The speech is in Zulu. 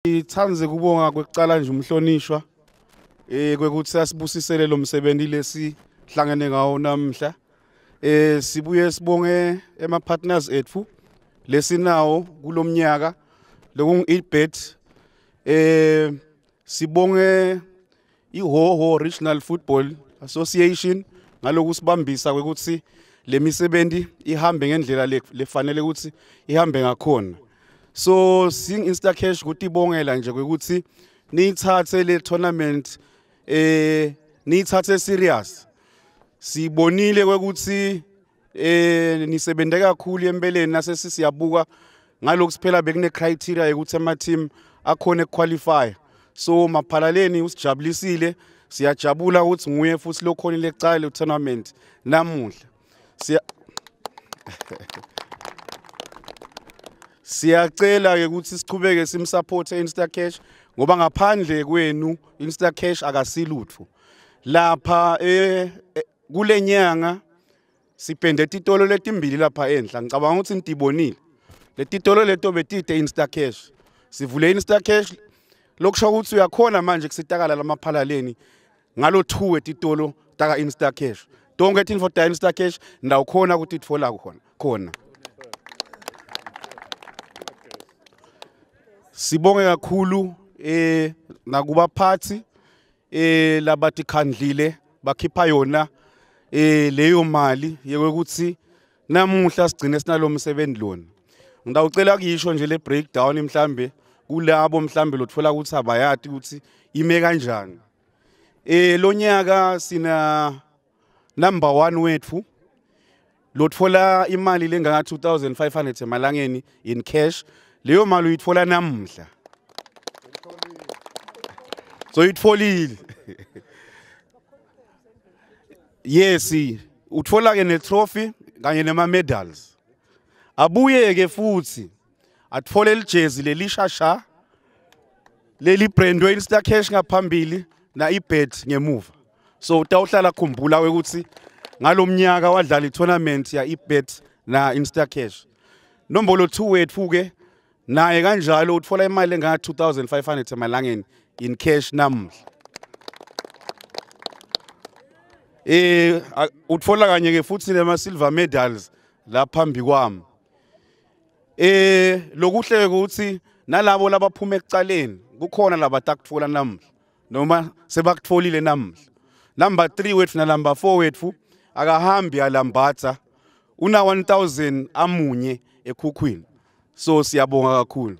Ngithanda kubonga kwekuqala nje umhlonishwa eh kwekuthi sasibusisele lo msebenzi lesi hlangene ngawo namhla eh sibuye sibonge ema partners ethu lesinawo kulomnyaka lokungu-ibet eh sibonge iHoho Regional Football Association ngaloku sibambisa ukuthi le misebenzi ihambe ngendlela lefanele ukuthi ihambe ngakhona so sing insta cash ukuthi ibongela nje ukuthi niyithathe le tournament eh niyithathe serious sibonile ukuthi Eh nisebenze kakhulu empeleni nase sisiyabuka ngalokho siphela bekune criteria yokuthi ama team akhona ekuqualify. So maphalaleni usijabulisile siyajabula ukuthi nguye futhi lokhona lecala le tournament namuhla. Siya Siyacela ke ukuthi siqhubeke simsupport eInstacash ngoba ngaphandle kwenu Instacash akasilutho. Lapha eh, eh kule nyanga sipende titolo letimbili lapha enhla ngicabanga ukuthi nitibonile letitolo leto betide insta cash sivule insta cash lokusho ukuthi uyakhona manje kusitakala lamaphalaleni ngalo two etitolo taka insta cash tonke tinfo ta insta cash ndawo khona ukuthi titfola khona khona sibonge kakhulu eh nakubaphathi eh labathi khandlile bakhipha yona eh leyo mali yekwekuthi namuhla sigcine sinalomsebenzi lona ngidawucela kuyisho nje le breakdown mhlambe kulabo mhlambe lothola ukuthi abayati ukuthi ime kanjani eh lonyaka sina number 1 wethu lotfola imali lengaka 2500 emalangeni in cash leyo mali uyitfola namhla so itfolile yes utfola ke ne trophy kanye nema medals abuye ke futhi athole elijezi lelisha sha leli brandwe insta cash ngaphambili na ibet ngemuva so utawuhlala khumbula ukuthi ngalomnyaka wadlala itournament ya ibet na insta cash nombolo 2 wethu ke naye kanjalo uthola imali enga 2500 emalangeni in cash namuhla eh uthola kanye ke futhi lema silver medals la phambi kwami Eh lokuhle ukuthi nalabo labaphuma ekucaleni kukhona labatakutfola namuhla noma sebakutfolile namuhla. Number 3 wethu na number 4 wethu akahambi alambatha una 1000 amunye ekhukhwini. So siyabonga kakhulu.